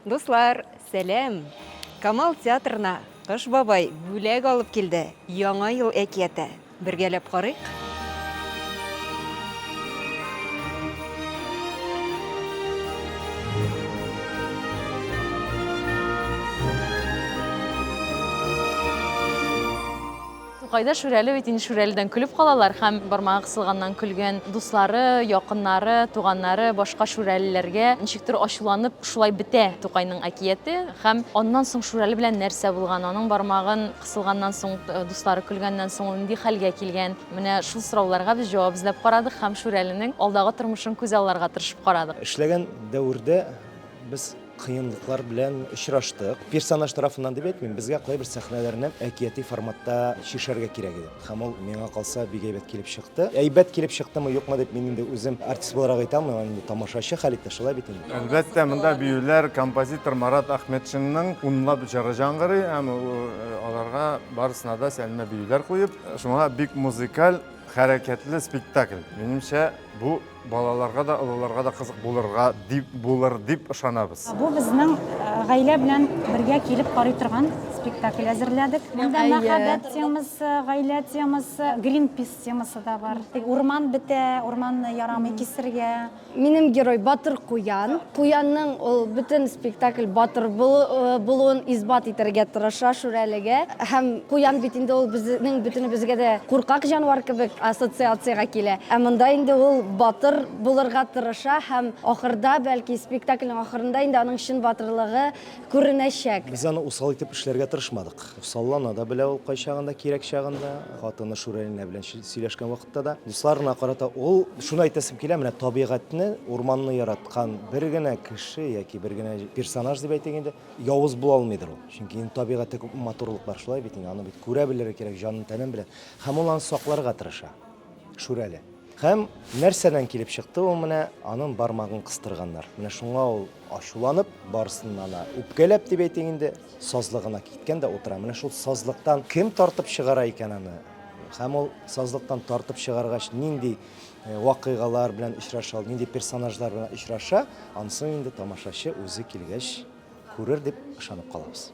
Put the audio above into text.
Дуслар, сәлам! Камал театрына Кыш бабай бүләк алып килде. Яңа ел әкияте. Бергәләп карыйк. Тукайда Шүрәле бит инде Шүрәледән көлеп калалар һәм бармагы кысылганнан көлгән дуслары, якыннары, туганнары, башка шүрәлеләргә ничектер ачуланып шулай бетә Тукайның әкияте һәм аннан соң Шүрәле белән нәрсә булган, аның бармагын кысылганнан соң, дуслары көлгәннән соң ул нинди хәлгә килгән, менә шул сорауларга без җавап эзләп карадык һәм Шүрәленең алдагы тормышын күзалларга тырышып карадык. Эшләгән дәвердә без. кыенлыклар белән очраштык. Персонаж тарафыннан дип әйтмим, безгә кайбер сәхнәләрне әкияти форматта чишәргә кирәк иде. Һәм ул миңа калса бик әйбәт килеп чыкты. Әйбәт килеп чыктымы, юкмы дип мин инде үзем артист буларак әйтә алмыйм, инде тамашачы хәл итте, шулай бит инде. Әлбәттә, монда биюләр композитор Марат Ахметшинның унлап җыры җангырый һәм аларга барысына да сәлмә биюләр куеп, шуңа бик музыкаль, хәрәкәтле спектакль. Минемчә, бу Балаларга да, олыларга да кызык булырга дип булыр дип ышанабыз. Бу безнең гаилә белән бергә килеп карый торган спектакль әзерләдек. Монда мәхәббәт темасы, гаилә темасы, Гринпис темасы да бар. Урман бетә, урманны ярамый кисергә. Минем герой Батыр Куян. Куянның ул бөтен спектакль батыр булуын исбат итәргә тырыша Шүрәлегә. Һәм куян бит инде ул безнең бөтенебезгә дә куркак җанвар кебек ассоциациягә килә. Ә монда инде ул батыр булырга тырыша һәм ахырда, бәлки спектакльнең ахырында инде аның чын батырлыгы күренәчәк. Без аны усал итеп эшләргә тырышмадык. Саллана да белә ул кайчагында, кирәк чагында, хатыны Шүрәлинә белән сөйләшкән вакытта да. Дусларына карата ул шуны әйтәсем килә, менә табигатьне, урманны яраткан бер генә кеше яки бер генә персонаж дип әйтик инде, явыз була алмыйдыр ул. Чөнки инде табигатьтә күп матурлык бар шулай бит инде, аны бит күрә белергә кирәк, җанын-тәнен белән. Һәм ул аны сакларга тырыша. Шүрәле. Һәм нәрсәдән килеп чыкты ул менә, аның бармагын кыстырганнар. Менә шуңа ул ачуланып, барысыннан да үпкәләп дип әйтик инде, сазлыгына киткән дә утыра. Менә шул сазлыктан кем тартып чыгара икән аны? Һәм ул сазлыктан тартып чыгаргач, нинди э, вакыйгалар белән очраша, ул нинди персонажлар белән очраша, ансын инде тамашачы үзе килгәч күрер дип ышанып калабыз.